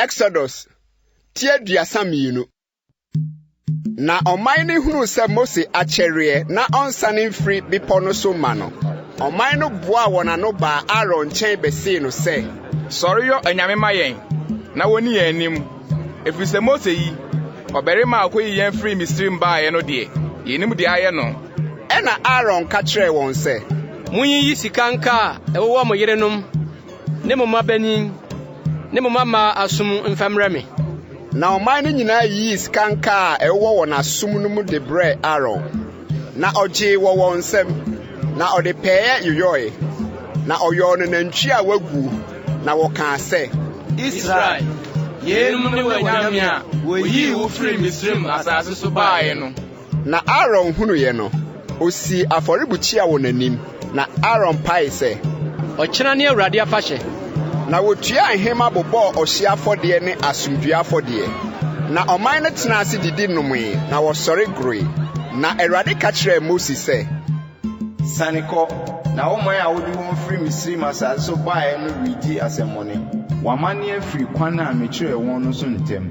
Exodus ti aduasa mmienu. Na ɔman no hunuu sɛ Mose akyɛreɛ na ɔnsane mfiri bepɔ no so mma no. Ɔman no boaa wɔn ano baa Aaron nkyɛn bɛsee no sɛ. Sɔre yɔ anyame ma yɛn na wɔnni yɛn anim, ɛfiri sɛ Mose yi, ɔbarima a ɔkɔyii yɛn firii Misraim baeɛ no deɛ, yɛnnim deɛ ayɛ no. Ɛnna Aaron ka kyerɛɛ wɔn sɛ. Monyiyi sika nkaa a ɛwowɔ mo yerenom ne mo mmabanin ne mo mmammaa asom mfa mmrɛ me. Na ɔman no nyinaa yii sikanka a ɛwowɔ wɔn asom no mu de brɛɛ Aaron, na ogyee wɔ wɔn nsam, na ɔde pɛɛ yoyɔe, na ɔyɔɔ no nantwi a waguo, na wɔkaa sɛ, Israel, yeinom ne w'anyame a woyii wo firii Misraim asase so baeɛ no. Na Aaron hunuiɛ no, ɔsii afɔrebukyia wɔ n'anim, na Aaron paee sɛ. Ɔkyena ne Awurade afahyɛ. Na wɔtuaa nhema bobɔɔ ɔhyeɛ afɔdeɛ ne asomdwoeɛ afɔdeɛ. Na ɔman no tenaa ase didi nomee, na wɔsɔre goroe. Na Awurade ka kyerɛɛ Mose sɛ. Siane kɔ, na wo man a wode wɔn firi Misraim asase so baeɛ no redi asɛmmɔne. Wɔamane afiri kwan a mekyerɛɛ wɔn no so ntɛm.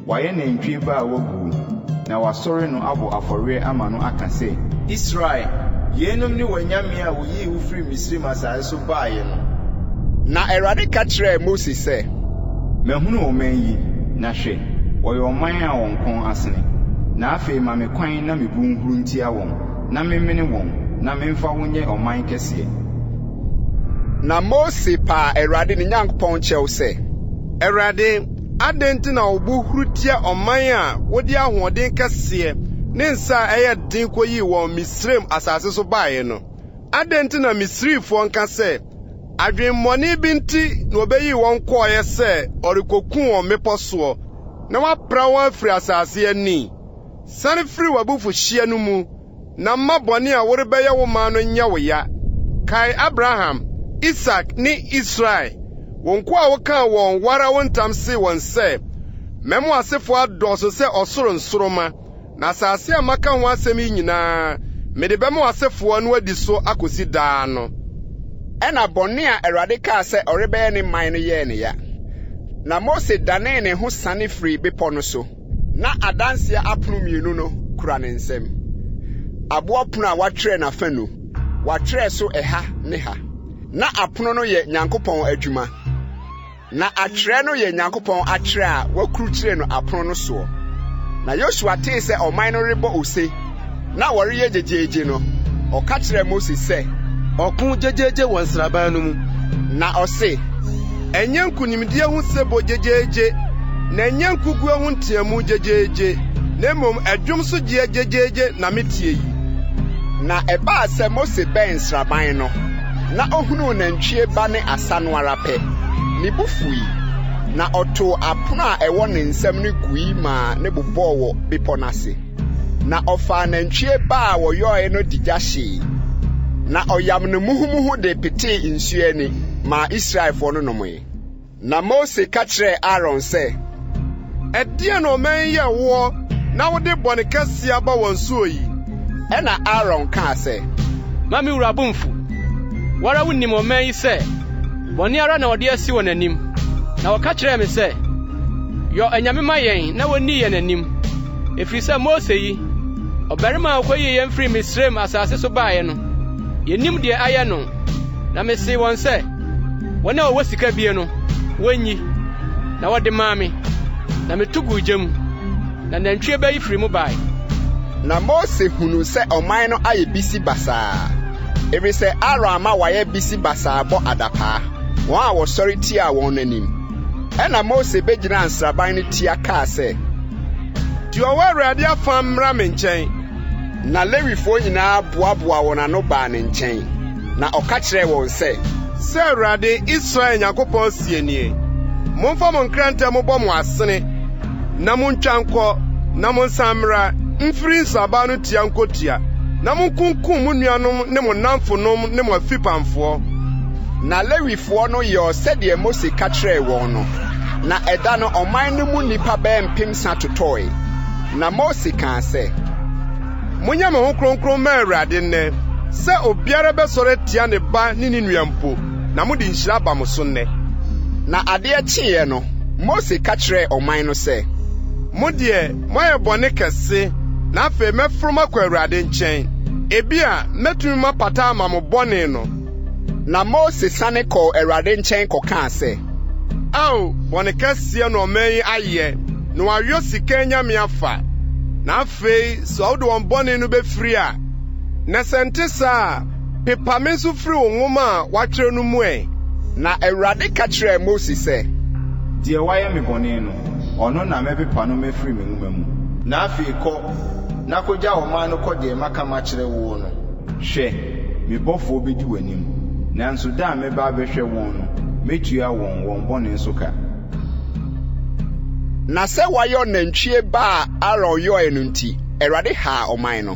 Wɔayɛ nantwie ba a waguo, na wɔasɔre no abɔ afɔreɛ ama no aka sɛ. Israel, yeinom ne w'anyame a wɔyii wo firii Misraim asase so baeɛ no. Na Awurade ka kyerɛɛ Mose sɛ. Mahunu ɔman yi, na hwɛ, wɔyɛ ɔman a wɔn kɔn asene. Na afei ma me kwan na mebu nhuro ntia wɔn, Na menwene wɔn, na memfa wo nyɛ ɔman kɛseɛ. Na Mose paa Awurade ne Nyankopɔn kyɛw sɛ. Awurade, adɛn nti na wo bo huru tia ɔman a wode ahoɔden kɛseɛ ne nsa a ɛyɛ den kɔyii wɔn Misraim asase so baeɛ no? Adɛn nti na Misrifoɔ nka sɛ, 'Adwemmɔne bi nti na ɔbɛyii wɔn kɔeɛ sɛ ɔrekɔku wɔn mmepɔ soɔ, na wapra wɔn afiri asase ani? San firi w'abufuhyeɛ no mu, na mma bɔne a worebɛyɛ wo man no nyɛ wo ya. Kae Abraham, Isak, ne Israel, wo nkoa a wokaa wɔn wo ara wo ntam see wɔn sɛ, 'Mɛma w'asefoɔ adɔɔso sɛ ɔsoro nsoromma, na asase a maka ho asɛm yi nyinaa, mede bɛma w'asefoɔ na wɔadi so akɔsi daa' no. Ɛnna bɔne a Awurade kaa sɛ ɔrebɛyɛ ne man no yɛɛ no ya, na Mose danee ne ho siane firii bepɔ no so. na adanseɛ apono mmienu no kura ne nsam. Aboɔ pono a wɔatwerɛ n'afanu, wɔatwerɛ so ɛha ne ha. Na apono no yɛ Nyankopɔn adwuma, na atwerɛ no yɛ Nyankopɔn atwerɛ a wɔakrukyire no apono no soɔ. Na Yosua tee sɛ ɔman no rebɔ ose, na wɔreyɛ gyegyeegye no, ɔka kyerɛɛ Mose sɛ. Ɔko gyegyeegye wɔ nsraban no mu. Na ɔse, Ɛnyɛ nkonimdie ho sebɔ gyegyeegye, na ɛnyɛ nkoguo ho nteamu gyegyeegye, na mmom ɛdwom so gyeɛ gyegyeegye na metie yi. Na ɛbaa sɛ Mose bɛn nsraban no, na ɔhunuu nantwie ba ne asa no ara pɛ, ne bo fui, na ɔtoo apono a ɛwɔ ne nsam no gui maa no bobɔɔ wɔ bepɔ no ase. Na ɔfaa nantwie ba a wɔyɔe no de gya hyee, na ɔyam no muhumuhu de petee nsu ani maa Israelfoɔ no nomee. Na Mose ka kyerɛɛ Aaron sɛ, Ɛdeɛn na ɔman yi yɛ woɔ na wode bɔne kɛseɛ aba wɔn soɔ yi? Ɛnna Aaron kaa sɛ. Mma me wura bo mmfu. Wo ara wonim ɔman yi sɛ bɔne ara na wɔde asi wɔn anim. Na wɔka kyerɛɛ me sɛ, 'Yɔ anyame ma yɛn na wɔnni yɛn anim. Ɛfiri sɛ Mose yi, ɔbarima a ɔkɔyii yɛn firii Misraim asase so baeɛ no, yɛnim deɛ ayɛ no. Na mesee wɔn sɛ, wɔn a wɔwɔ sika bie no, wɔnyi. Na wɔde maa me, na meto guu gya mu, na nantwie ba yi firii mu baeɛ. Na Mose hunuu sɛ ɔman no ayɛ bisi basaa, ɛfiri sɛ Aaron ama wɔayɛ bisi basaa bɔ adapaa, wɔn a wɔsɔre tiaa wɔn no anim. Ɛnna Mose begyinaa nsraban no tia kaa sɛ, Deɛ ɔwɔ Awurade afã mmra me nkyɛn. Na Lewifoɔ nyinaa boaboaa wɔn ano baa ne nkyɛn, na ɔka kyerɛɛ wɔn sɛ. Sɛ Awurade, Israel Nyankopɔn seɛ nie, 'Momfa mo nkrantɛ mmobɔ mo asene, na montwa nkɔ, na monsan mmra mfiri nsraban no tia nkɔtia, na monkunkum mo nuanom ne mo nnamfonom ne mo afipamfoɔ. Na Lewifoɔ no yɔɔ sɛdeɛ Mose ka kyerɛɛ wɔn no, na ɛda no ɔman no mu nnipa bɛyɛ mpemsa totɔɔe. Na Mose kaa sɛ, Monyɛ mo ho kronkron mma Awurade nnɛ, sɛ obiara bɛsɔre atia ne ba ne ne nua mpo, na mode nhyira aba mo so nnɛ. Na adeɛ kyeeɛ no, Mose ka kyerɛɛ ɔman no sɛ. Mo deɛ, moayɛ bɔne kɛse, na afei mɛforo makɔ Awurade nkyɛn. Ebia mɛtumi mapata ama mo bɔne no. Na Mose sane kɔɔ Awurade nkyɛn kɔkaa sɛ. Ao, bɔne kɛseɛ na ɔman yi ayɛ, na wɔayɔ sika anyame afa. Na afei sɛ wode wɔn bɔne no bɛfiri a, na sɛ nte saa a, pepa me nso firi wo nwoma a woatwerɛ no mu ɛ. Na Awurade ka kyerɛɛ Mose sɛ. Deɛ wayɛ me bɔne no, ɔno na mɛpepa no mafiri me nwoma mu. Na afei kɔ, na kɔgya ɔman no kɔ deɛ maka makyerɛ woɔ no. Hwɛ, Me bɔfoɔ bɛdi w'anim, nanso da a mɛba abɛhwɛ wɔn no, mɛtua wɔn wɔn bɔne so ka. Na sɛ wɔayɔ nantwie ba a Aaron yɔeɛ no nti, Awurade haa ɔman no.